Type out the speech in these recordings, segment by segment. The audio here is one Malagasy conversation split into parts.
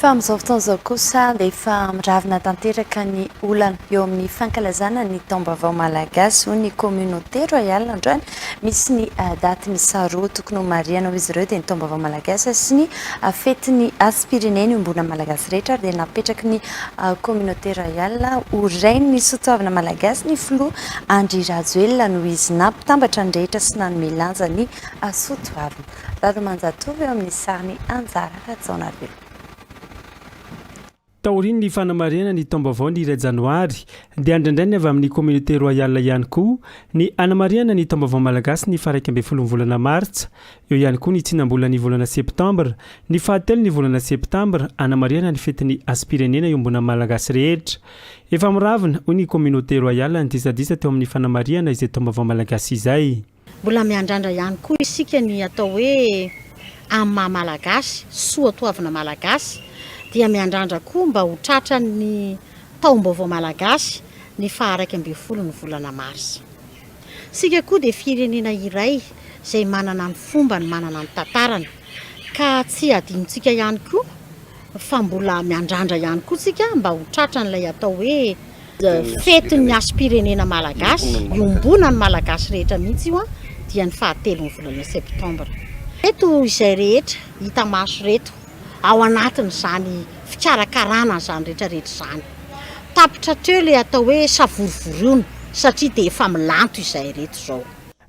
Fa amin'izao fotoana izao kosa dia efa miravona tanteraka ny olana eo amin'ny fankalazana ny taom-baovao malagasy, hoy ny Communauté Royale androany. Misy ny daty miisa roa tokony homarihana hoy izy ireo dia ny taom-baovao malagasy sy ny fetin'ny Aspirine. Niombonan'ny Malagasy rehetra ary dia napetraky ny Communauté Royale ho Rain'ny soatoavina malagasy ny Filoha Andry Rajoelina noho izy nampitambatra ny rehetra sy nanome lanja ny soatoavina. Dada Manjatovo eo amin'ny sarin'i Anjara Rajaonarivelo. Taorian'ny fanamarihana ny taom-baovao ny iray janoary dia andraindray ny avy amin'ny Communauté Royale ihany koa ny hanamarihana ny taom-baovao malagasy ny faharaika ambin'ny folon'ny volana martsa. Eo ihany koa ny tsinam-bolan'ny volana septambra, ny fahatelon'ny volana septambra, hanamarihana ny fetin'ny hasim-pirenena iombonan'ny Malagasy rehetra. Efa miravona, hoy ny Communauté Royale ny disadisa teo amin'ny fanamarihana izay taom-baovao malagasy izay. Mbola miandrandra ihany koa isika ny atao hoe amin'ny maha Malagasy, soa toavina Malagasy, dia miandrandra koa mba ho tratran'ny taom-baovao Malagasy ny faha iraika ambin'ny folo ny volana marsa. Isika koa dia firenena iray izay manana ny fombany, manana ny tantarany, ka tsy hadinontsika ihany koa, fa mbola miandrandra ihany koa tsika mba ho tratran'ilay atao hoe fetin'ny hasim-pirenena malagasy, iombonan'ny malagasy rehetra mihitsy io dia ny fahatelon'ny volana septambra. Ireto izay rehetra hita maso ireto ao anatin'izany fikarakarana an'izany retraretra izany. Tapitra hatreo ilay atao hoe savorovoroana satria dia efa milanto izay ireto izao.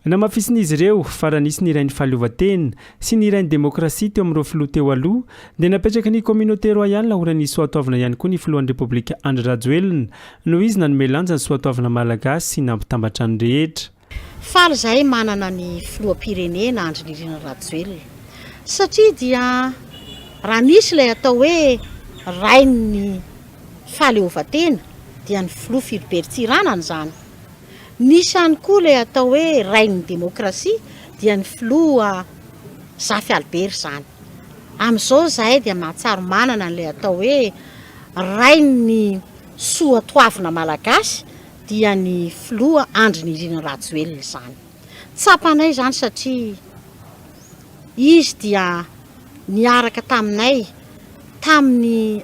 Namafisin'izy ireo fa raha nisy ny Rain'ny Fahaleovantena sy ny Rain'ny Demokrasia teo amin'ireo filoha teo aloha dia napetraky ny Communauté Royale ho Rain'ny Soatoavina ihany koa ny Filohan'ny Repoblika Andry Rajoelina noho izy nanome lanja ny Soatoavina Malagasy sy nampitambatra ny rehetra. Faly izahay manana ny Filoham-pirenena Andry Nirina Rajoelina satria dia raha misy ilay atao hoe Rain'ny Fahaleovantena dia ny Filoha Philbert Tsiranana izany. Nisy ihany koa ilay atao hoe rain'ny demokrasia dia ny filoha Zafy Albert izany. Amin'izao izahay dia mahatsiaro manana an'ilay atao hoe rain'ny soa toavina malagasy dia ny filoha Andry Nirina Rajoelina izany. Tsapanay izany satria izy dia niaraka taminay tamin'ny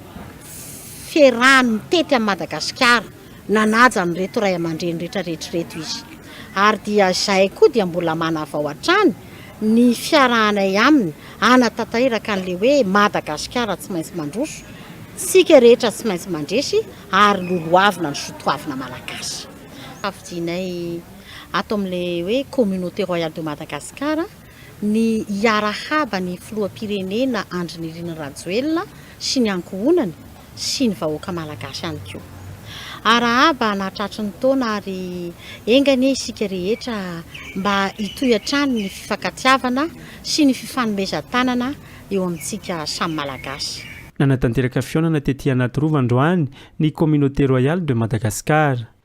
fiarahany nitety an'i Madagasikara. Nanaja an'ireto ray aman-dreny rehetrarehetra ireto izy, ary dia izahay koa dia mbola manavao hatrany ny fiarahanay aminy hanatanteraka an'ilay hoe Madagasikara tsy maintsy mandroso, isika rehetra tsy maintsy mandresy ary lolohavina ny soatoavina malagasy. Safidianay ato amin'ilay hoe Communauté Royale de Madagascar. ny hiarahaba ny filoham-pirenena Andry Nirina Rajoelina sy ny ankohonany sy ny vahoaka malagasy ihany koa. Arahaba anatratry ny taona ary enga anie isika rehetra mba hitohy hatrany ny fifankatiavana sy ny fifanomezan-tanana eo amintsika samy malagasy. Nanatanteraka fihaonana tety Anatirova androany ny Communauté Royale de Madagascar.